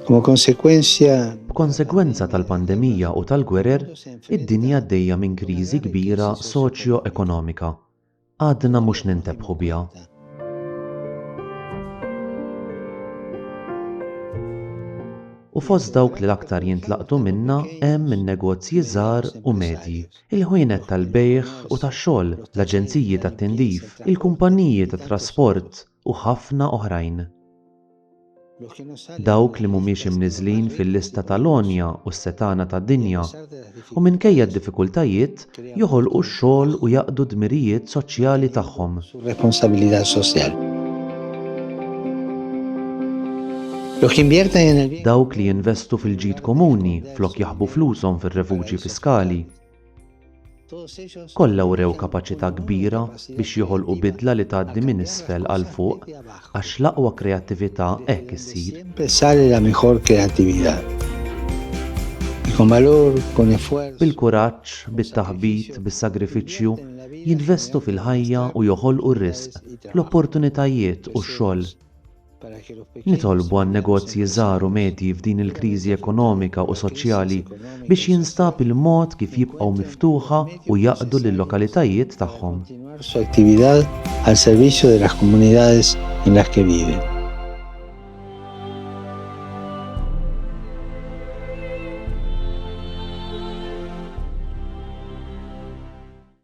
Como consecuencia B'konsegwenza tal-pandemija u tal-gwerer, id-dinja għaddejja minn kriżi kbira soċjo-ekonomika. Għadna mhux nintebħu biha. U fost dawk li l-aktar jintlaqtu minnha hemm in-negozji żgħar u medji, il-ħwienet tal-bejgħ u tax-xogħol, l-aġenziji tat-tindif, il-kumpanniji tat-trasport, u ħafna oħrajn. Dawk li mhumiex imniżżlin fil-lista ta' l-għonja u s-setgħana tad-dinja, u minkejja d-diffikultajiet, joħolqu x-xogħol u jaqdu d-dmirijiet soċjali tagħhom. Dawk li jinvestu fil-ġid komuni flok jaħbu flushom fir-refuġji fiskali. Kollha wrew kapaċità kbira biex joħolqu bidla li tgħaddi minn isfel għal fuq, għax l-aqwa kreattività hekk issir. Bil-kuraġġ, bit-taħbit, bis-sagrifiċċju, jinvestu fil-ħajja u joħolqu r-risq, l-opportunitajiet u x-xogħol. Nitolbu għan-negozji żgħar u medji f'din il-kriżi ekonomika u soċjali biex jinstab il-mod kif jibqgħu miftuħa u jaqdu lil-lokalitajiet tagħhom.